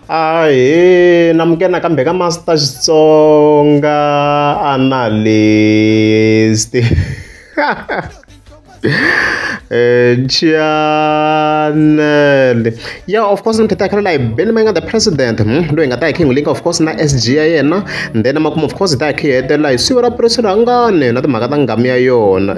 ahe namuke nakambe ka master xitsonga analyst eh, chanele ya of course ni kheta khale layi beni ma nga the president hmm? loyi nga ta hi king link of course na sg ya yena then makumu of course hi ta hi khihetela hi siva ra puresi rhangane na timhaka ta ngami ya yona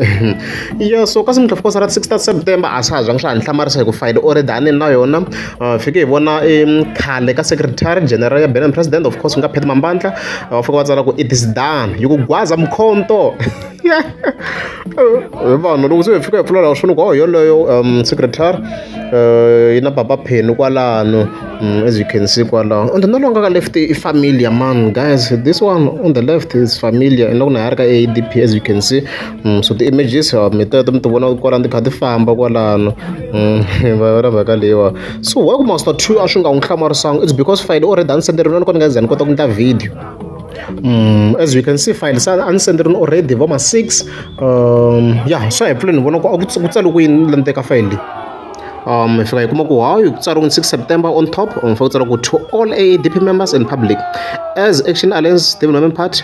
Iyo so ka semotlha fokotsa ra six ta september a swa ha zvangi swa ha ni hlamarisa hi ku fayele o ri dani na yona uh, fike hi vona um khale ka secretary general ya benin president of course u nga pheti mambandla va fika va tsala ku it is done yi ku gwaza mkhonto vanhu loko se hi fika hi pfula laha swini ku oh yoloyo um secretary uh, yi na papa pheni kwalano um, as you can see kwalano and no longer ka left i familiar man guys this one on the left is familiar and loko na ha ri ka adp as you can see so ti-images mi teto mi ti vona kwalano ti kha ti famba kwalano va yona mhaka leyiwa so why ku master two a swi nga n'wi hlamarisanga it's because file o red a ni senderiwa ni kona ni nga za ni kota ku endla video Mm, as we can see file sa a ni senderini already vo ma six um ya swa hi pfule ni vona ku a ku tsa- ku tsali ku yini la ni teka file leyi um hi fika hi kuma ku hawu ku tsariwe 6 september on top um fa ku tsariwa ku to all aadp members and public as action alliance development party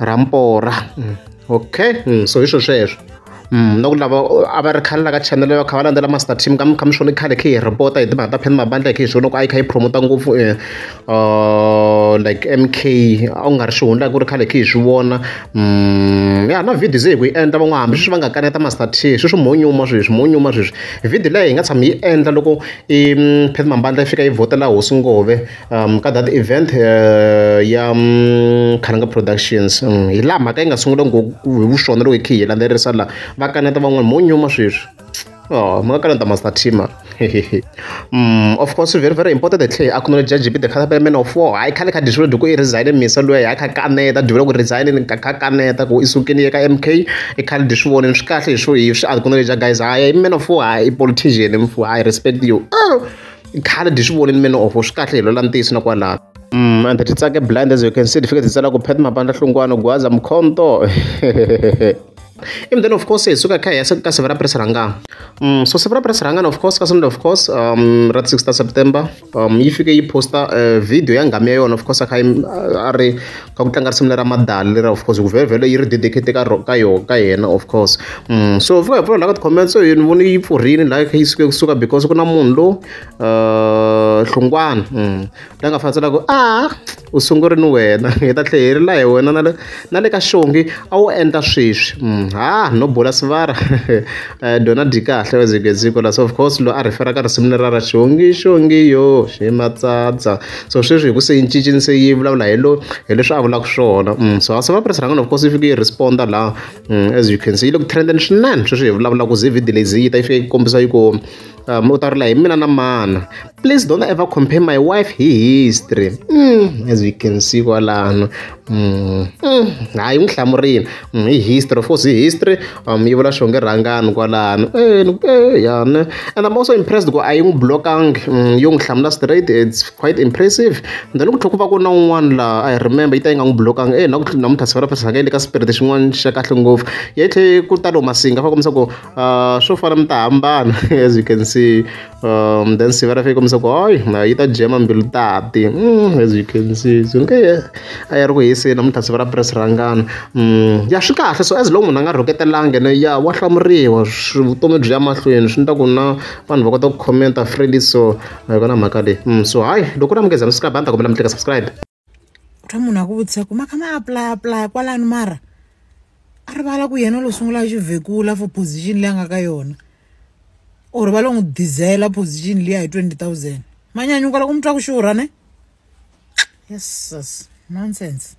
ra mpora mm, okay mm, so hi swo sweswo Mm, na ku lava a va ri khale la ka channel va kha va landzela master team ka mikha mixoni khale khe hi repota hi timhaka ta pheni mabandla khe hi swona ku a yi kha yi promota ngopfu eh, uh, like mk a ku nga ri xihundla ku ri khale khe hi swi vona mm, ya na video ze hi ku yi endla van'wana hambi sweswi va nga kaneta master t sweswi monyuma sweswi monyuma sweswi video leyi hi nga tshama yi endla loko i mm, pheni mabandla yi fika yi vhotela hosi ngove ka that event ya Khananga Productions hi laha mhaka yi nga sungula ngopfu hi vuxona loko hi khe hi landzelerisa laha va kaneta van'wana mo nyuma sweswi oh ma ka lenta master team mm of course very very important that tlhe acknowledge judge the khala payment of four hayi khale kha disho duku i resign misa loya hayi kha kaneta duvela ku resign ni kha kaneta ku isukini ka MK i khale disho vone swi kahle hi swo hi swi acknowledge guys hayi man of four hayi politician mfu hayi respect you oh. i khale dyi swi vonile mina ofo swi kahle hi lwela ntiyiso na kwalaho Mm, and ti tsake blind as you can see ti fike ti tsala ku phet mabandla hlungwana gwaza mkhonto and then of course hi suka kha hi ya se ka siva ra press rhangana um so siva ra press rhangana of course ka sunday of course um ra 6 ta september um yi fike yi posta uh, video ya ngami ya yona of course a kha yi- a ri ka ku tlanga risimu lera Madali lera of course hi ku vhele yi ri dedicate ka ka yona ka yena of course so fika hi pfula laha ka ti-comment so ni vone yi pfurhile laha yi suke kusuka because ku na munhu lo hlungwana la nga fanisa loko a u sunguri ni wena hi ta tlhe hi ri la hi wena na le na le ka xongi a wu endla sweswi ha no bola sivara dona dyi kahle wezigeziko la so of course lo a rhifera ka risimu lera ra xongi xongi yo ximatsatsa so sweswi hi ku se yi cincile se yi vulavula hi lo hi leswi a vulaka swona mm, so house of apres rhanga of course yi fike yi responda la mm, as you can see yi le ku trenden swinene sweswi hi vulavula ku zi video leyi yi ta yi fike yi kombisa yi ku um u ta rila hi mina na mana please don't ever compare my wife hi history mm, as you can see kwalano Mm. Mm. hayi n'wi hlamurile mm, hi history of course hi history um yi vula xonge rhangani kwalano eh, eh, yane and i'm also impressed ku a yi n'wi blokangi yo n'wi hlamula straight it's quite impressive then ku tlhela ku va ku na un'wana laha i remember yi ta yi nga n'wi blokangi e eh, na ku namuntlha siku ra phasaka yi le ka spirit xin'wana xa kahle ngopfu yi tlhe ku talo masinga fa kombisa ku ah, swo fana mi ta hambana as you can see um, then siva ra fika komisa ku hoy yi ta jema mbilu tati mm, as you can see so nge a ya ri ku hiseni namuntlha siva ra press rangana mm, ya swi kahle so as long munhu a nga rhuketelangi ne ya wa hlamuriwa vutomi byi ya mahlweni swi ni ta ku na vanhu va kota ku commenta freely so a yi kona mhaka leyi mm, so hayi loko na munghezana subscribe a ni ta kombela mi tleka subscribe twa munhu akuvutisa ku maka ma apply apply kwalani mara a rivala ku yena lo sungula xivhekula for position leyi a nga ka yona or va lo n'wi dizela position liya hi 20000 manyanyuka loko mi twa ku xurha ne yesus nonsense